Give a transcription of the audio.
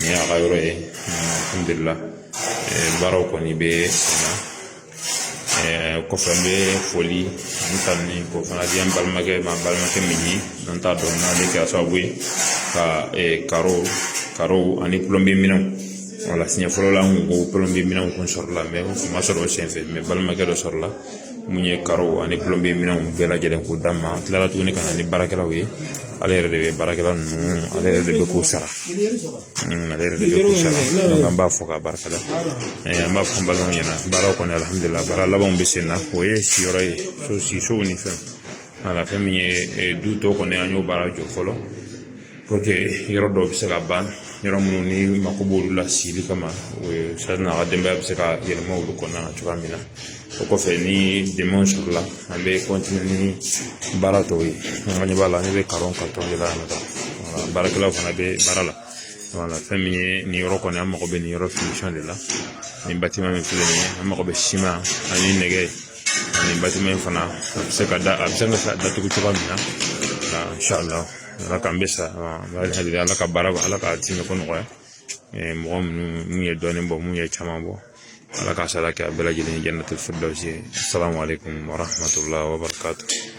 Nin y'a ka yɔrɔ ye alihamudulila baaraw kɔni bɛ sen na kɔfɛ n bɛ foli ni tanuni ko fana di an balimakɛ ma n balimakɛ min ye n'an t'a dɔn n'ale kɛra sababu ye ka karo karo ani pulɔnbiye minɛnw wala siɲɛ fɔlɔ la an ko pulɔnbiye minɛnw kun sɔrɔla u kun ma sɔrɔ o senfɛ balimakɛ dɔ sɔrɔla mun ye karo ani pulɔnbiye minɛnw bɛɛ lajɛlen k'o d'a ma an tilala tuguni ka na ni baarakɛlaw ye ale yɛrɛ de bɛ baarakɛla ninnu ale yɛrɛ de bɛ k'u sara hmm, ale yɛrɛ de bɛ k'u sara an b'a fɔ ka barika da eh, an b'a fɔ balimaw ɲɛna baaraw kɔni alihamudulila baara labanw bɛ sen na o ye siyɔrɔ ye so sisow ni fɛn wala fɛn min ye eh, du tɔ kɔni an y'o baara jɔ fɔlɔ yɔrɔ dɔw bɛ se ka ban yɔrɔ minnu ni mako b'olu la sili kama o ye sari n'a ka denbaya bɛ se ka yɛlɛma olu kɔnɔna na cogoya min na o kɔfɛ ni dɛmɛw sɔrɔla an bɛ kɔntine ni baara tɔw ye an ka ɲɛ b'a la ne bɛ karo karitɔn de la yan nɔ baarakɛlaw fana bɛ baara la wala fɛn min ye nin yɔrɔ kɔni an mago bɛ nin yɔrɔ finisɔn de la nin batiman min filɛ nin ye an mago bɛ siman ani nɛgɛ ani batiman in fana a bɛ se ka da a bɛ se ka datugu cogoya min na inshallah ala k'an bɛɛ sara ala ka baara ala k'a tiimɛ ko nɔgɔya mɔgɔ minnu mun ye dɔɔnin bɔ mun ye caman bɔ ala k'a sara kɛ a bɛɛ lajɛlen ye janatuli firidawusi asalamu alekum warahamatula wabarakatu